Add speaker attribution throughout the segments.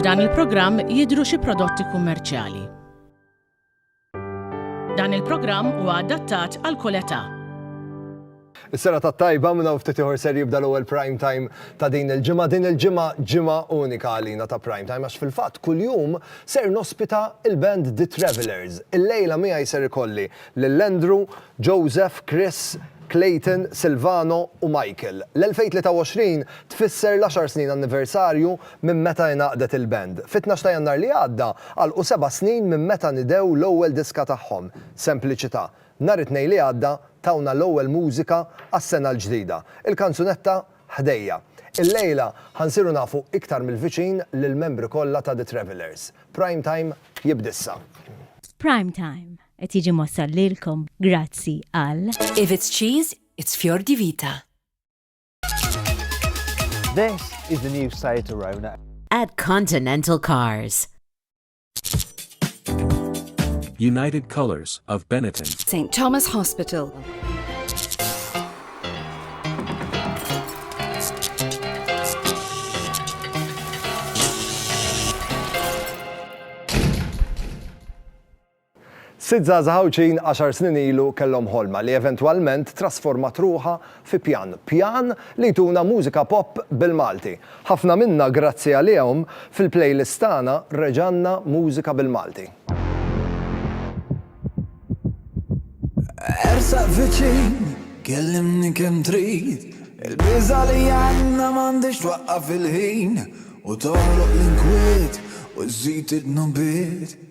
Speaker 1: F'dan il-programm jidhru xi prodotti kummerċjali. Dan il-programm huwa adattat għal kull età.
Speaker 2: Is-sena ta' tajba minna ftit ieħor ser jibda l-ewwel prime time ta' din il-ġimgħa. Din il-ġimgħa ġimgħa unika għalina ta' prime time għax fil-fatt kuljum ser nospita il-band The Travelers. Il-lejla miegħi ser ikolli lil Andrew, Joseph, Chris, Clayton, Silvano u Michael. L-2023 tfisser l-għaxar snin anniversarju minn meta ingħaqdet il-band. Fit-tnax ta' Jannar li għadda għalqu seba' snin minn meta nidew l-ewwel diska tagħhom, Sempliċità. Nhar it-Tnejn li għadda tawna l-ewwel mużika għas-sena l-ġdida, il-kanzunetta Ħdejja. Illejla ħa nsiru nafu iktar mill-viċin lill-membri kollha ta' The Travellers. Prime Time jibda issa. F'Prime
Speaker 3: Time, Qed jiġi mwassal lilkom grazzi għal. If it's cheese,
Speaker 4: it's fior di vita.
Speaker 5: This is the new Seat Arona. At Continental
Speaker 4: Cars.
Speaker 6: United Colors of Benetton. St. Thomas
Speaker 4: Hospital.
Speaker 2: Sitt żgħażagħ Għawdxin għaxar snin ilu kellhom ħolma li eventwalment trasformat ruħha fi pjan. Pjan li jtuna mużika pop bil-Malti. Ħafna minna grazzi għalihom, fil-playlist tagħna reġa' għandna mużika bil-Malti.
Speaker 7: Ersaq viċin, kellimni kemm trid, il-biża' li għandna m'għandhiex twaqqaf il-ħin, u toħloq l-inkwiet u żżid id-dnubiet.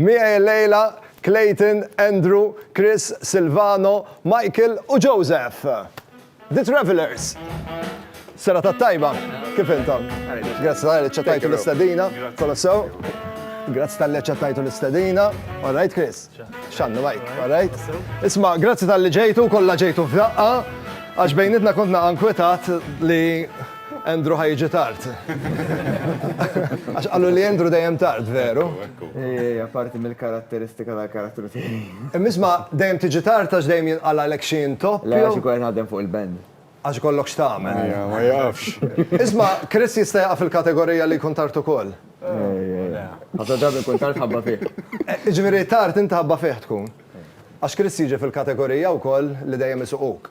Speaker 2: Miegħi llejla, Clayton, Andrew, Chris, Silvano, Michael u Joseph! The Travellers! Serata t-tajba! Kif intom? Grazzi tal-li aċċettajtu l-istedina. Kollox sew? Grazzi tal-li aċċettajtu l-istedina. All right, Chris? X'għandna Mike? All right? Isma', grazzi tal-li ġejtu, kollha ġejtu f'daqqa, għax bejnietna kont naqa' nkwetat li Andrew ħa jiġi tard. Għax qalu li Andrew dejjem tard, veru? Ejja, parti
Speaker 5: mill-karatteristika tal-karattru tiegħi. Imma isma' dejjem
Speaker 2: tiġi tard għax dejjem jinqalgħalek xi intopp? Le, għax ikolli naħdem fuq
Speaker 5: il-band. Għax ikollok x'tagħmel.
Speaker 2: Ejja, ma jafx.
Speaker 5: Isma', Chris
Speaker 2: jista' jaqa' fil-kategorija li jkun tard ukoll.
Speaker 5: Ejja. Ħafna drabi nkun tard ħabba fih. Jiġifieri tard
Speaker 2: inti ħabba fih tkun. Għax Chris jiġi fil-kategorija wkoll li dejjem isuquk.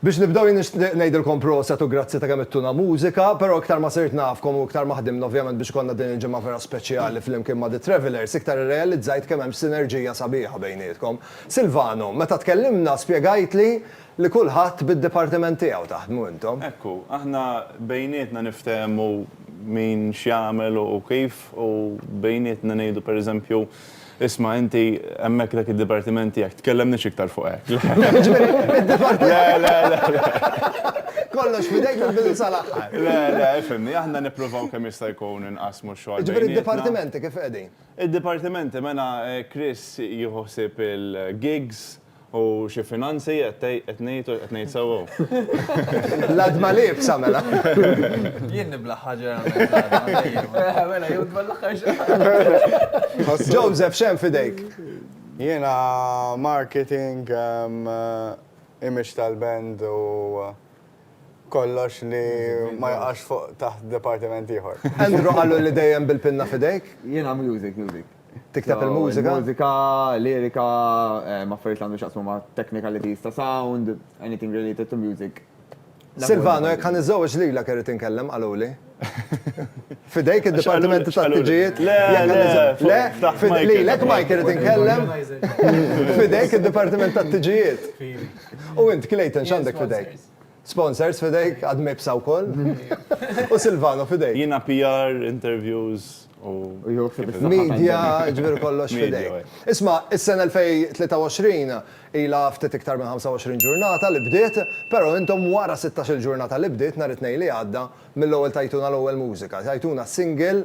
Speaker 8: Biex nibdew jien
Speaker 2: nixtieq ngħidilkom proset u grazzi ta' kemm ittuna mużika, però iktar ma sirt nafkom u iktar ma ħdimna ovvjament biex ikollna din il-ġimgħa vera speċjali flimkien ma' The Travellers, iktar irrealizzajt kemm hemm sinerġija sabiħa bejnietkom. Silvano, meta tkellimna spjegajtli li kulħadd bid-dipartiment tiegħu taħdmu intom. Hekk hu, aħna
Speaker 9: bejnietna niftehmu min x'jagħmel u kif u bejnietna ngħidu pereżempju Isma' inti, hemmhekk dak id-dipartiment tiegħek, tkellemniex iktar fuq hekk. Jiġifieri, id-dipartiment. Le, le, le, le.
Speaker 2: Kollox f'idejk mill-bidu sal-aħħar. Le, le, ifhimni,
Speaker 9: aħna nippruvaw kemm jista' jkun inqassmu x-xogħol bejnietna. Jiġifieri d-dipartimenti kif
Speaker 2: qegħdin? Id-dipartimenti, mela
Speaker 9: Chris jieħu ħsieb il-gigs. U xi finanzi qed tgħid, qed ngħid u qed ngħid sewwa hu?
Speaker 2: L-għadma l-iebsa mela. Jien nibla' ħaġar għall-mezz għadha, dejjem.
Speaker 8: Eħe, mela, jew dwar l-aħħar xahar. Joseph,
Speaker 2: x'hemm f'idejk? Jiena
Speaker 10: marketing, image tal-band u kollox li ma jaqax fuq taħt dipartiment ieħor. Andrew qallu li
Speaker 2: dejjem bil-pinna f'idejk? Jiena music, music.
Speaker 5: Tikteb
Speaker 2: il-mużika? Mużika,
Speaker 5: lirika, affarijiet li għandhom x'jaqsmu ma' technicalities ta' sound, anything
Speaker 2: related
Speaker 5: to
Speaker 2: music. Silvano,
Speaker 5: jekk ħa
Speaker 2: niżżewweġ lilek
Speaker 5: irrid
Speaker 2: inkellem,
Speaker 5: qaluli.
Speaker 2: F'idejk id-dipartiment tat-tiġijiet? Le, le,
Speaker 9: le. Lilek Mike
Speaker 2: irrid inkellem. F'idejk id-dipartiment tat-tiġijiet? U int, Clayton, x'għandek f'idejk? Sponsors f'idejk, għad m'ibsa wkoll. U Silvano f'idejk. Jiena PR,
Speaker 9: interviews u. Media,
Speaker 2: jiġifieri kollox f'idejk. Isma', is-sena 2023 ilha ftit iktar minn 25 ġurnata li bdiet, però intom wara sittax-il ġurnata li bdiet nhar it-Tnejn li għadda, mill-ewwel tajtuna l-ewwel mużika, tajtuna single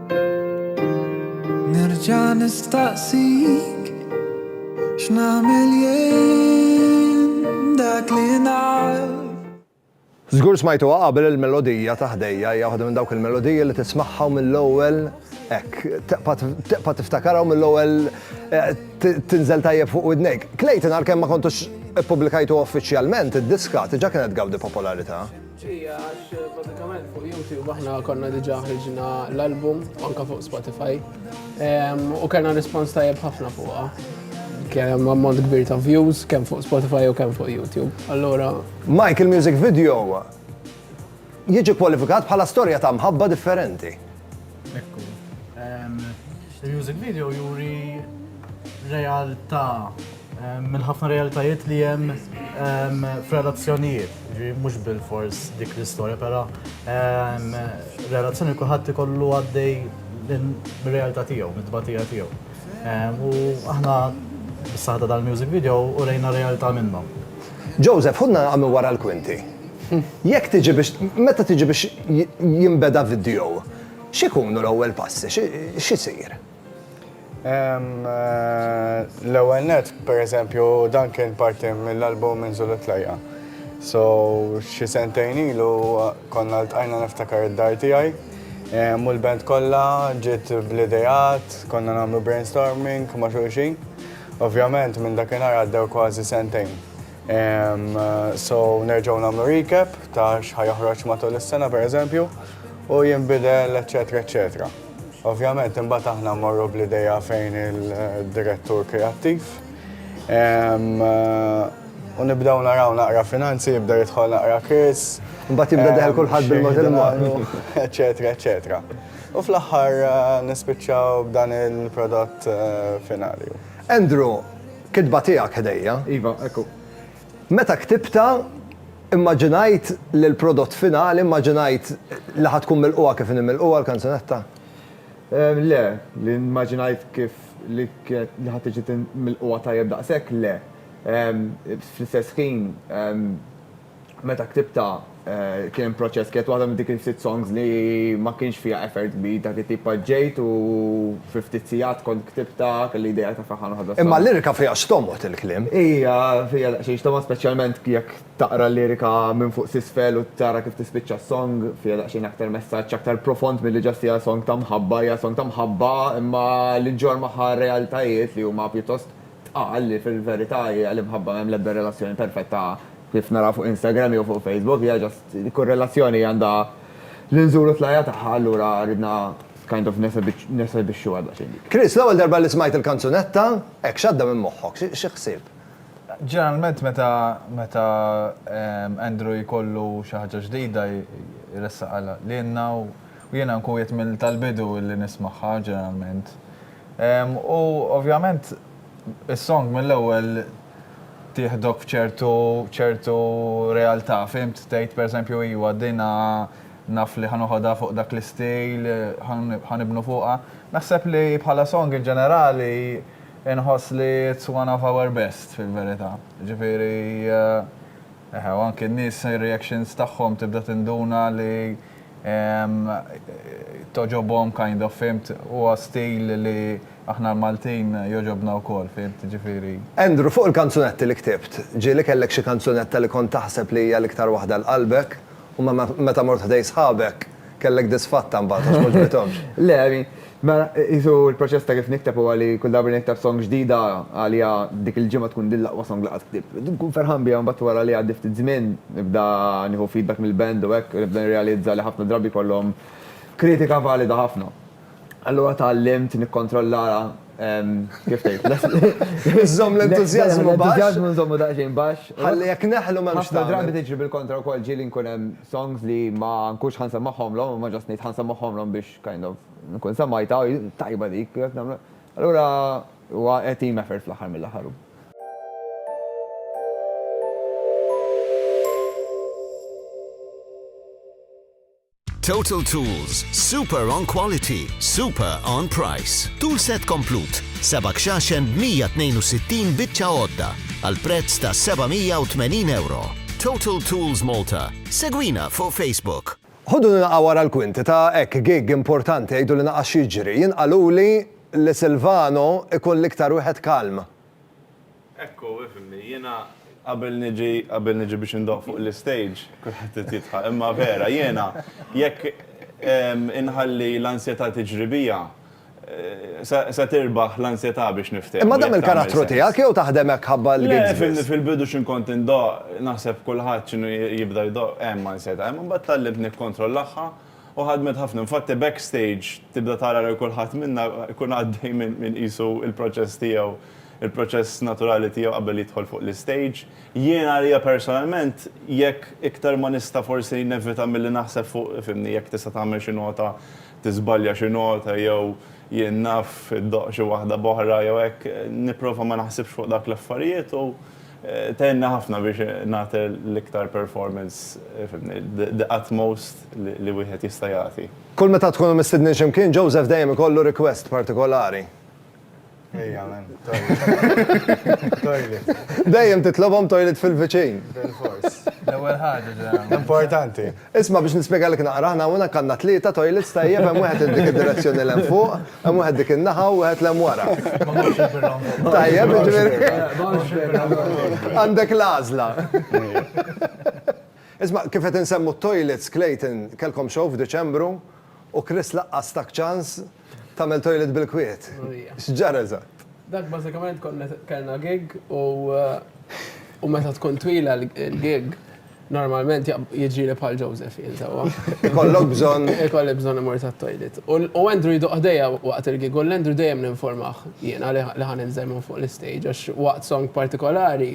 Speaker 7: Nerġa' nistaqsik x'nagħmel jien dak li naf.
Speaker 2: Żgur smajtuha qabel il-melodija ta' ħdejja hija waħda minn dawk il-melodiji li tismagħha u mill-ewwel hekk teqpa' tiftakarha u mill-ewwel eh, tinżel tajjeb fuq widnejk. Clayton għalkemm ma kontux ippubblikajtu uffiċjalment id-diska tiġa kienet gawdi popolarità. Ġija,
Speaker 11: għax bażikament fuq YouTube aħna konna diġà ħriġna l-album anka fuq Spotify u kellna rispons tajjeb ħafna fuqha. Kemm ammont kbir ta' views, kemm fuq Spotify u kemm fuq YouTube. Allora. Mike, il-music
Speaker 2: video jiġi kwalifikat bħala storja ta' mħabba differenti. Ekku.
Speaker 12: Il-music video juri realtà minn ħafna realtajiet li jem f'relazzjonijiet, ġi mux bil-fors dik l-istoria, pero relazzjoni kuħat kollu għaddej minn-realtà tijaw, minn-tbatija tijaw. U aħna s-saħda dal-music video u rejna realtà minnom. Joseph, ħu
Speaker 2: nara minn wara l-kwinti. Jekk tiġi biex, meta tiġi biex jinbeda video, x'ikunu l-ewwel passi, x'isir?
Speaker 10: L-ewwel net, pereżempju, dan kien parti mill-album minn Zulu Tlajja. So, xi sentejn ilu konna ltqajna niftakar id-dar tiegħi. U l-band kollha ġiet bl-ideat, konna nagħmlu brainstorming ma' xulxin. Ovvjament minn dakinhar għaddew kważi sentejn. So nerġgħu nagħmlu recap ta' x'ħa joħroġ matul is-sena pereżempju u jinbidel eċetera eċetera. Ovvjament imbagħad aħna mmorru bl-idea fejn il-direttur kreattiv. U nibdew naraw naqra finanzi, jibda jidħol naqra Chris. Imbagħad jibda jidħol
Speaker 2: kulħadd bil-mod il-mod. Eċetera
Speaker 10: eċetera. U fl-aħħar nispiċċaw b'dan il-prodott finali. Andrew,
Speaker 2: kitba tiegħek ħdejja. Iva, ekku.
Speaker 5: Meta
Speaker 2: ktibtha, immaġinajt li l-prodott finali, immaġinajt li ħa tkun milqugħa kif inhi milqugħa l-kanzunetta?
Speaker 5: Le, li immaġinajt kif li ħa tiġi milqugħa tajjeb daqshekk, le. Fl-istess ħin, Meta ktibtha kien proċess, kienet waħda minn dik il-ftit songs li ma kienx fiha effort kbir, dak it-tip paġġejt u fi ftit sigħat kont ktibtha, kelli idea ta' ferħan waħda sola. Imma l-lirika fiha x'tomgħod
Speaker 2: il-kliem. Hija fiha
Speaker 5: daqsxejn x'tomgħod speċjalment jekk taqra l-lirika minn fuq s'isfel u tara kif tispiċċa s-song, fiha daqsxejn aktar messaġġ aktar profond milli just hija song ta' mħabba, hija song ta' mħabba imma li ġġorr magħha realtajiet li huma pjuttost Tqal li fil-verità hija l-imħabba m'hemm l-ebda relazzjoni perfetta kif naraw fuq Instagram jew fuq Facebook, hija just li kull relazzjoni għandha l-inżul u t-tlajja tagħha allura ridna kind of nesebixxuha daqsxejn dik. Chris, l-ewwel darba li
Speaker 2: smajt il-kanzunetta, hekk x'għadda minn moħħok? Xi ħsieb? Ġeneralment
Speaker 8: meta meta Andrew jkollu xi ħaġa ġdida jressaqha lilna u jiena nkun qiegħed mill tal-bidu li nismagħha ġeneralment. U ovvjament is-song mill-ewwel tieħdok f'ċertu ċertu realtà, fhimt? Tgħid pereżempju iwa dinha naf li ħa noħodha fuq dak l-istil, ħa nibnu fuqha. Naħseb li bħala song in ġenerali inħoss li it's one of our best fil-verità. Ġifieri eħe u anki n-nies ir-reactions tagħhom tibda tinduna li, togħġobhom kind of fimt, huwa stil li aħna l-Maltin jogħġobna wkoll fimt, jiġifieri. Andrew, fuq il-kanzunetti
Speaker 2: li ktibt, ġieli kellek xi kanzunetta li kont taħseb li hija l-iktar waħda għal qalbek u meta mort ħdejn sħabek kellek disfatta mbagħad għax m'għoġbithomx? Le, I mean,
Speaker 5: Mela, qisu l-proċess ta' kif nikteb huwa li kull darba li nikteb song ġdida, għalija dik il-ġimgħa tkun din l-aqwa song li qatt ktibt. Nkun ferħan biha mbagħad wara li jgħaddi ftit żmien, nibda nieħu feedback mill-band u hekk, u nibda nirrealizza li ħafna drabi jkollhom kritika valida ħafna. Allura tgħallimt nikkontrolla, kif tgħid, Iżżomm l-entużjażmu
Speaker 2: baxx. L-entużjażmu nżommu daqsxejn
Speaker 5: baxx. Ħalli jekk neħlu m'hemmx
Speaker 2: tagħmel. Ħafna drabi tiġri bil-kontra
Speaker 5: wkoll, ġieli nkun hemm songs li ma nkunx ħa nsemmagħhomlhom, imma just ngħid ħa nsemmagħhomlhom biex Kind of, nkun semgħitha, oh, tajba dik, jekk nagħmlu. Allura, huwa team effort fl-aħħar mill-aħħar.
Speaker 13: Total Tools, super on quality, super on price. Tool set komplut, seba' xaxen 162 bitċa għodda, għal prezz ta' 780 euro. Total Tools Malta, segwina fuq Facebook. Ħudu li naqa' wara
Speaker 2: l-kwinti ta' hekk gig importanti għidu li naqas x'jiġri. Jien qaluli li Silvano jkun l-iktar wieħed kalm. Hekk
Speaker 9: hu, ifhimni, jiena qabel niġi qabel niġi biex indoqq fuq l-istage kulħadd irid jidħaq imma vera jiena jekk inħalli l-ansjetà tiġri bija, Se tirbaħ l-ansjetà biex niftehmu. Imma dan mill-karattru tiegħek
Speaker 2: jew taħdem hekk ħabba l-gigs biss? Le, fil-bidu x'in kont
Speaker 9: indoqq, naħseb kulħadd x'inhu jibda jdoqq, hemm ansjetà, imma mbagħad tgħallimt nikkontrollagħha u ħadmet ħafna. Infatti backstage tibda tara lil kulħadd minna jkun għaddej minn qisu l-proċess tiegħu, il-proċess naturali tiegħu qabel jidħol fuq l-istage. Jien għalija personalment jekk iktar ma nista' forsi nevita milli naħseb fuq, fhimni, jekk tista' tagħmel xi nota tiżbalja xi nota jew jien naf iddoqq xi waħda b'oħra jew hekk, nipprova ma naħsibx fuq dak l-affarijiet u tgħinni ħafna biex nagħti l-iktar performance fimni, the utmost li wieħed jista' jagħti. Kull meta tkunu mistidnin
Speaker 2: xi mkien, Joseph dejjem ikollu request partikolari.
Speaker 10: Ejja, men, toilet. Dejjem titlobhom
Speaker 2: toilet fil-viċin. Bil-fors.
Speaker 8: L-ewwel ħaġa Importanti.
Speaker 10: Isma' biex nispjegalek
Speaker 2: naqra aħna hawn kanna tlieta toilets tajjeb hemm wieħed dik id-direzzjoni l fuq, hemm wieħed dik in-naħa u wieħed l wara. Tajjeb, ġifieri. Għandek l-għażla. Isma' kif qed insemmu t-toilets Clayton kellkom show f'Diċembru u Chris laqqas tak ċans Tagħmel toilet bil-kwiet. X'ġara eżatt? Dak bażikament
Speaker 11: konna kellna gig u u meta tkun twila l-gig normalment jiġri li bħal Joseph jinsawa. Ikollok bżonn.
Speaker 2: Ikollok bżonn imur
Speaker 11: tat-toilet. U Andrew jduq ħdejja waqt il-gig u l-Andrew dejjem ninformah jiena li ħa ninżel minn fuq l-istage għax waqt song partikolari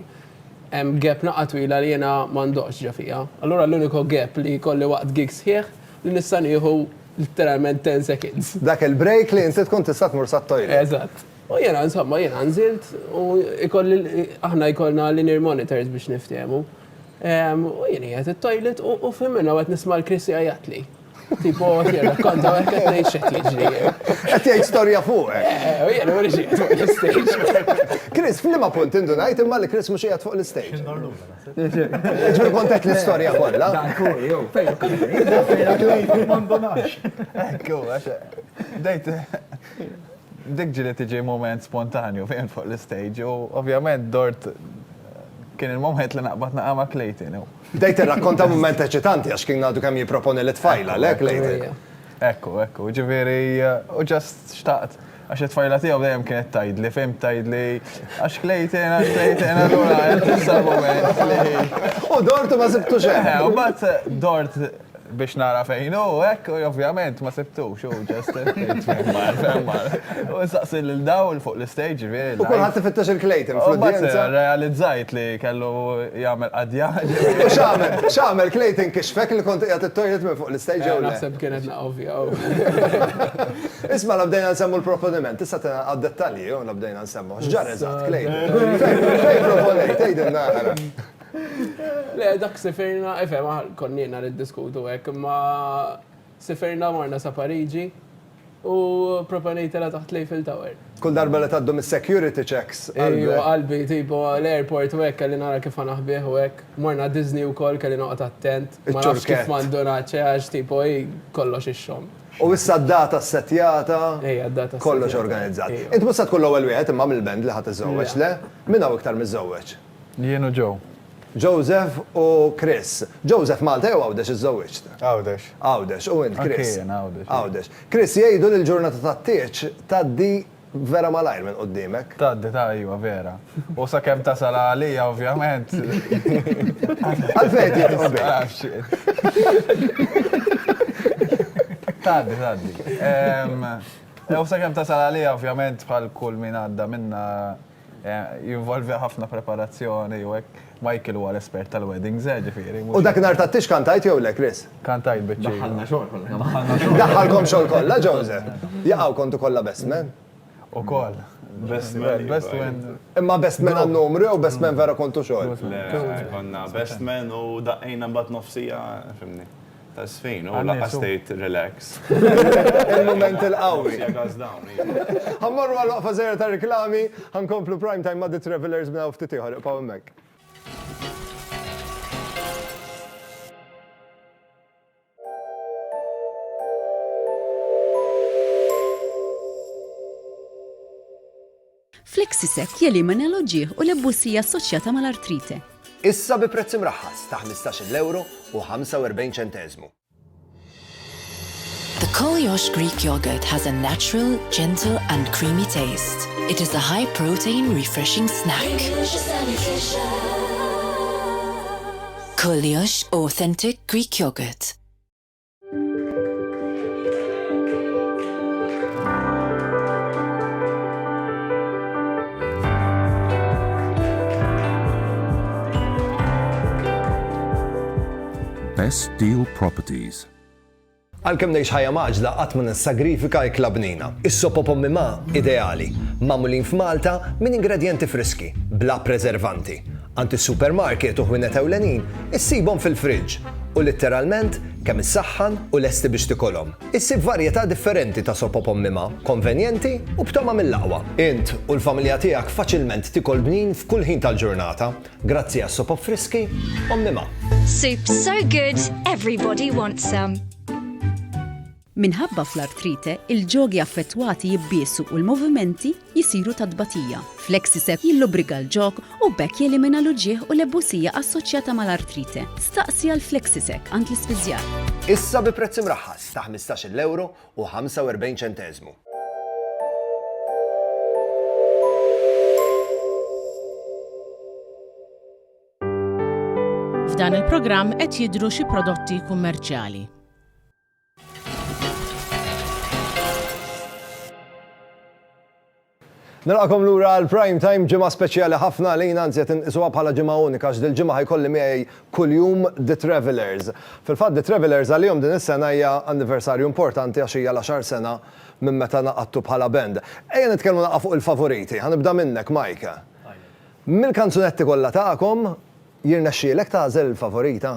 Speaker 11: hemm gap naqa' twila li jiena m'għandhx ġo fija. Allura l-uniku gap li jkolli waqt gig sħiħ li nista' nieħu Literalment 10 seconds. Dak il-break li inti
Speaker 2: tkun tista' tmur sat-toilet. Eżatt. U jiena
Speaker 11: insomma jiena nżilt u ikolli aħna jkollna l-in-ear monitors biex niftehmu. U jien qiegħed it-toilet u f'ħin minnha u qed nisma' l-Chris jgħajjatli. Tipo qed jirrakkonta u qed ngħid x'qed jiġri. Qed jgħid storja
Speaker 2: fuqek. U jiena ma nix qiegħed fuq
Speaker 11: l-istage. Chris, f'liema
Speaker 2: punt indunajt imma li Chris mhux qiegħed fuq l-istage? Ġur kontet l-istoria kolla. Dan ku, jow, fejn klini. Fejn klini, mandonax.
Speaker 8: Ekku, għax, dejt, dik ġili tiġi moment spontanju fejn fuq l-stage u ovvjament dort kien il-moment li naqbad naqama klejtin. Dejt rakkonta
Speaker 2: moment eċitanti għax kien għadu kemm jiproponi l-tfajla, le klejtin. Ekku, ekku,
Speaker 8: ġiviri, u ġast xtaqt. Għax it-tfajla tiegħu dejjem kienet tgħidli, fehim tgħidli, għax Clayton, għax Clayton, allura qed issa l-mument li. U dort u ma sibtux
Speaker 2: hemm. U mbagħad dort
Speaker 8: biex nara fejn hu hekk u ovvjament ma sibtux u ġest irrid fejn mar, fejn mar. U nsaqsi lil dawl fuq l-istage ġifieri live. U kulħadd ifittex il-Clayton
Speaker 2: fl-udjenza. U mbagħad realizzajt li
Speaker 8: kellu jagħmel qadjar. U x'għamel?
Speaker 2: X'għamel Clayton kixfek li kont qiegħed it-toilet minn fuq l-istage jew le? Naħseb kienet. Isma' la bdejna nsemmu l-proponiment, tista' tina għad-dettalji jew la bdejna nsemmu? X'ġara eżatt, Clay? Fejn proponejt, tgħidilna ara.
Speaker 11: Le, dak sifirna, ifhem, konniena niddiskutu hekk, imma sifirna morna sa Pariġi u proponejtilha taħt l-Eiffel Tower. Kull darba li tgħaddu
Speaker 2: mis-security checks qalbek. Ejwa qalbi,
Speaker 11: tipo l-airport u hekk kelli nara kif ħa naħbih u hekk. Morna Disney wkoll kelli noqgħod attent. Ma nafx kif ma ndunatx, eh, għax tipo hi kollox ix-xogħol. U issa d-data
Speaker 2: ssettjata. Ejja, d-data ssettjata. Kollox organizzat. Int mhux se tkun l-ewwel wieħed imma mill-band li ħa tiżżewweġ, le? Min hawn iktar miżżewweġ? Jien u Joe.
Speaker 8: Joseph
Speaker 2: u Chris. Joseph, Malta jew Għawdex iżżewwiġt? Għawdex. Għawdex.
Speaker 10: U int, Chris? Anke
Speaker 2: jien, Għawdex. Għawdex.
Speaker 8: Chris,
Speaker 2: jgħidu li l-ġurnata tat-tieġ tgħaddi vera malajr minn qudiemek. Tgħaddi, ta' iva, vera.
Speaker 8: U sakemm tasal għalija, ovvjament.
Speaker 2: Għalfejn qed jidħku bik? Ma nafx.
Speaker 8: Tgħaddi, tgħaddi. U sakemm tasal għalija, ovvjament, bħal kull min għadda minnha, Jinvolvi ħafna preparazzjoni u hekk. Michael huwa l-espert tal-weddings, eh, ġifieri. U dak nhar tat-tix
Speaker 2: kantajt jew le, Chris? Kantajt biċ-ċir. Daħħalna
Speaker 8: xogħol kollha kemm
Speaker 5: aħna. Daħħalkom xogħol
Speaker 2: kollha, Jose? Jaqaw kontu kollha best man? Ukoll.
Speaker 8: Best man, best man. Imma best man
Speaker 2: għan-numru jew best man vera kontu xogħol? Le, konna
Speaker 9: best man u daqqejna mbagħad nofsija, fimni. Ta' sfin, u laqqas tgħid relax. Il-mument
Speaker 2: il-qawwi. Ħa mmorru għal waqfa żgħira ta' riklami, ħa nkomplu Prime Time ma' The Travellers minn hawn ftit ieħor, ibqgħu hemmhekk.
Speaker 14: Flexisec jelimina l-uġigħ u l-ebbussija assoċjata mal-artrite. Issa bi prezz
Speaker 2: imraħħas ta' 15-il ewro u 45 ċenteżmu.
Speaker 4: The Koliosh Greek yogurt has a natural, gentle and creamy taste. It is a high protein refreshing snack. Koliosh authentic Greek yogurt.
Speaker 6: Best Deal Properties Għalkemm
Speaker 2: ngħix ħajja maġla qatt ma nissagrifika ikla bnina. Is-sopo pommi ma ideali, magħmulin f'Malta minn ingredjenti friski, bla preservanti. Għand is-supermarket u ħwienet ewlenin issibhom fil-friġġ u litteralment kemm issaħħan u lesti biex tikolhom. Issib varjetà differenti ta' soppa b'ommimha, konvenjenti u b'togħma mill-aqwa. Int u l-familja tiegħek faċilment tikol bnin f'kull ħin tal-ġurnata grazzi għas-sopop friski ommimha. Soup so
Speaker 15: good everybody wants some.
Speaker 14: Minħabba fl-artrite, il-ġogi affettwati jibbiesu u l-movimenti jsiru ta' tbatija. Flexicep jillubrika l-ġog u b'hekk jelimina l-uġigħ u l-ebusija assoċjata mal-artrite. Staqsi għal Flexicep għand l-ispiżjar. Issa bi prezz
Speaker 2: imraħħas ta' ħmistax-il ewro u ħamsa u erbgħin ċenteżmu.
Speaker 1: F'dan il-programm qed jidhru xi prodotti kummerċjali.
Speaker 2: Nilqakom lura għal prime time ġimgħa speċjali ħafna li jina nżiet inqisuha bħala ġimgħa unika x'dil ġimgħa ħajkolli miegħi kuljum The Travelers. Fil-fatt The Travelers għalihom din is-sena hija anniversarju importanti għax hija l-għaxar sena minn meta naqadtu bħala band. Ejja nitkellmu naqgħa fuq il-favoriti, ħanibda minnek Mike. Mill-kanzunetti kollha tagħkom, jirnexxielek tagħżel il-favorita?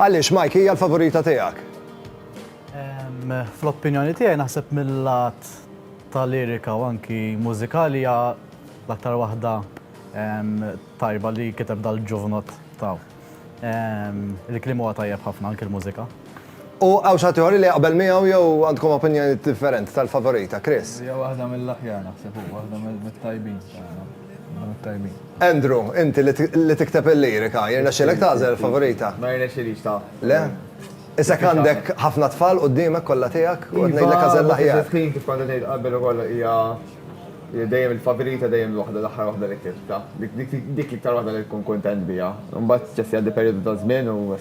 Speaker 7: Għaliex Mike hija
Speaker 2: l-favorita tiegħek?
Speaker 12: Fl-opinjoni tiegħi naħseb mill-lat ta' lirika u anki mużikali hija l-aktar waħda tajba li kiteb dal-ġuvnot ta' il-kliem huwa tajjeb ħafna anki l-mużika. U hawn xi
Speaker 2: ħadd ieħor li jaqbel miegħu jew għandkom opinjoni differenti tal-favorita, Chris? Hija waħda mill-aħjar
Speaker 8: naħseb u waħda mit-tajbin.
Speaker 2: Andrew, inti li tikteb il-lirika, jirnexxielek tagħżel favorita? Ma jirnexxielix ta'.
Speaker 5: Le?
Speaker 2: Isek għandek ħafna tfal quddiemek kollha tiegħek u qed ngħidlek għażel l-aħjar. L-istess ħin kif kont qed ngħid qabel
Speaker 5: ukoll hija dejjem il-favorita dejjem l-waħda l-aħħar waħda li ktibt ta'. Dik l-iktar waħda li tkun kuntent biha. Imbagħad spiċċa jgħaddi perjodu ta' żmien u.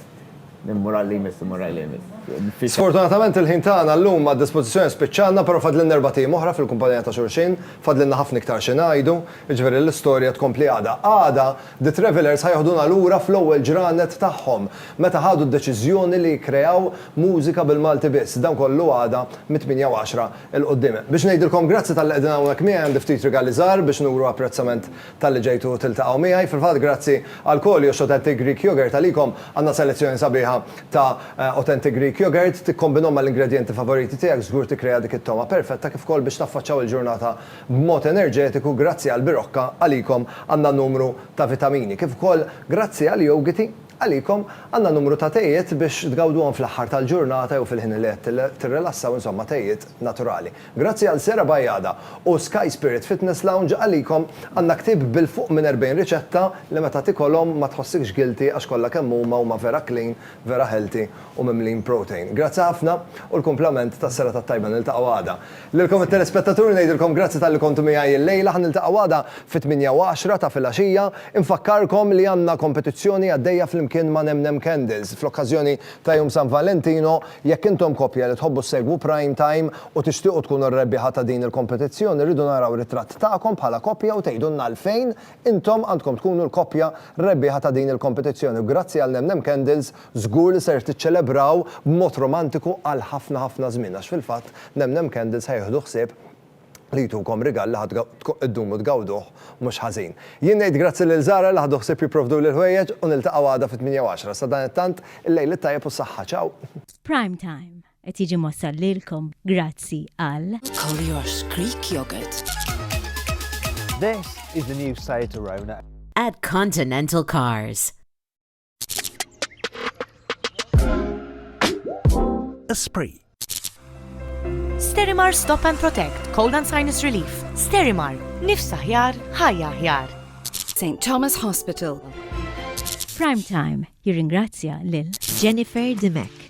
Speaker 5: Min imur għal li jmiss imur għal li jmiss. Sfortunatament
Speaker 2: il-ħin tagħna llum għad-dispożizzjoni spiċċalna però fadlilna erbat ijiem oħra fil-kumpanija ta' xulxin, fadlilna ħafna iktar xi ngħidu, jiġifieri l-istorja tkompli għada. Għada The Travellers ħa jeħduna lura fl-ewwel ġranet tagħhom meta ħadu d-deċiżjoni li jikkreaw mużika bil-Malti biss. Dan kollu għada mit-tmienja u għaxra 'l quddiem. Biex ngħidilkom grazzi talli qegħdin hawn hekk miegħi għandi ftit rigali żgħar biex nuru apprezzament Talli ġejtu tiltaqgħu miegħi. Fil-fatt grazzi għal Koljox Authentic Greek Yogurt għalikom għandna selezzjoni sabiħa ta' Authentic Greek Yogurt. Tikkombinhom mal-ingredjenti favoriti tiegħek żgur tikkrea dik it-togħma perfetta kif ukoll biex taffaċċaw il-ġurnata b'mod enerġetiku. Grazzi għall-birokka għalikom għandna numru ta' vitamini kif ukoll grazzi għall-jowgiti għalikom għandna numru ta' tejiet biex tgawduhom fl-aħħar tal-ġurnata jew fil-ħin li qed tirrilassaw insomma tejiet naturali. Grazzi għal Sera Bajada u Sky Spirit Fitness Lounge għalikom għandna ktieb bil fuq minn 40 riċetta li meta tikolhom ma tħossikx guilty għax kollha kemm huma huma vera clean, vera healthy u mimlin protein. Grazzi ħafna u l-kumplament tas-Sera tat-Tajba niltaqgħu għada. Lilkom it-telespettaturi ngħidilkom grazzi talli kontu miegħi illejla ħa niltaqgħu għada fit-8:10 ta' filgħaxija. Infakkarkom li għandna kompetizzjoni għaddejja flimkien ma' NemNem Candles fl-okkażjoni ta' Jum San Valentino, jekk intom koppja li tħobbu ssegwu Prime Time u tixtiequ tkunu r-rebbieħa ta' din il-kompetizzjoni rridu naraw ritratt tagħkom bħala koppja u tgħidulna għalfejn intom għandkom tkunu l-koppja rebbieħa ta' din il-kompetizzjoni u grazzi għal Nemnem Candles żgur li ser tiċċelebraw b'mod romantiku għal ħafna ħafna żmien għax fil-fatt Nemnem Candles ħa jieħdu ħsieb li jtukom rigal li ħa ddumu tgawduh mhux ħażin. Jien ngħid grazzi lil Zara li ħadu ħsieb jipprovduli l-ħwejjeġ u niltaqgħu għada fit-tmienja u għaxra. Sadanittant, il-lejl it-tajjeb u s-saħħa. Ciao! Prime Time
Speaker 3: qed jiġi mwassal lilkom grazzi għal. Collier's Greek
Speaker 4: Yogurt.
Speaker 16: This is the new site to Rona. At Continental
Speaker 1: Cars.
Speaker 17: Esprit.
Speaker 18: Sterimar Stop and Protect, Cold and Sinus Relief. Sterimar, nifs aħjar, ħajja aħjar. St. Thomas
Speaker 14: Hospital.
Speaker 3: Prime Time jirringrazzja lil Jennifer Dimek.